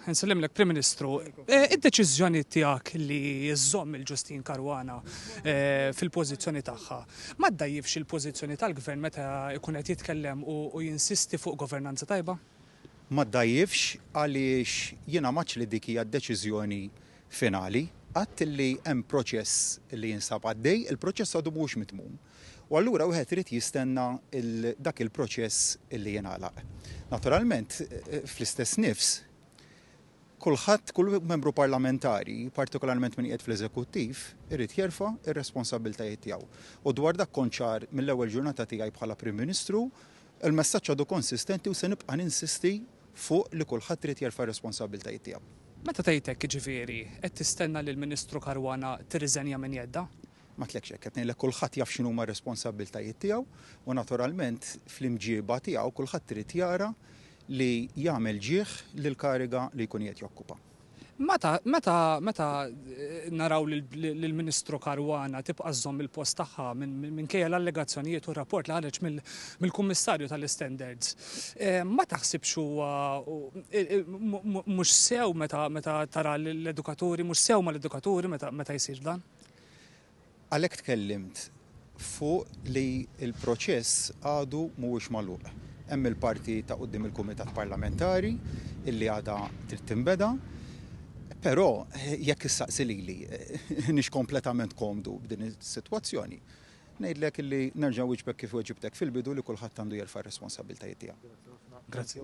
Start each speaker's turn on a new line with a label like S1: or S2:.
S1: Nsellimlek Prim Ministru, eh, id-deċiżjoni tiegħek li jżomm il-Ġustin Karwana eh, fil-pożizzjoni tagħha, ma ddajjifx il-pożizzjoni tal-Gvern meta jkun qed jitkellem u jinsisti fuq governanza tajba? Ma ddajjifx għaliex jiena maċ li dik hija d-deċiżjoni finali, għadt li hemm proċess li jinsab għaddej, il-proċess għadu mhux mitmum. u allura wieħed irid jistenna il dak il-proċess li jingħalaq. Naturalment, fl-istess nifs, kulħadd, kull membru parlamentari, partikolarment min qiegħed fl-eżekuttiv, irid jerfa' r-responsabbiltajiet tiegħu. U dwar dak kont ċar mill-ewwel ġurnata tiegħi bħala Prim Ministru, il-messaġġ għadu konsistenti u se nibqa' ninsisti fuq li kulħadd irid jerfa' r-responsabbiltajiet tiegħu. Meta tgħid hekk jiġifieri qed tistenna li l-Ministru Caruana tirriżenja minn jeddha? Ma għedtlekx hekk, qed ngħidlek kulħadd jaf x'inhuma r-responsabbiltajiet tiegħu u naturalment fl-imġieba tiegħu kulħadd irid jara li jagħmel ġieh lill-kariga li jkun qiegħed jokkupa. Meta, meta, meta naraw lill-Ministru Caruana tibqa' żżomm il-post tagħha minkejja l-allegazzjonijiet u r-rapport li ħareġ mill-Kummissarju tal-Istandards, ma taħsibx huwa mhux sew meta tara lill-edukaturi, mhux sew mal-edukaturi meta jsir dan? Għalhekk tkellimt fuq li l-proċess għadu mhuwiex magħluq. Hemm il-parti ta' quddiem il-Kumitat Parlamentari illi għadha trid tinbeda. Però jekk issaqsi lili, iniex kompletament komdu b'din is-sitwazzjoni, ngħidlek illi nerġa' nwieġbek kif weġibtek fil-bidu li kulħadd għandu jerfa' r-responsabbiltajiet tiegħu. Grazzi.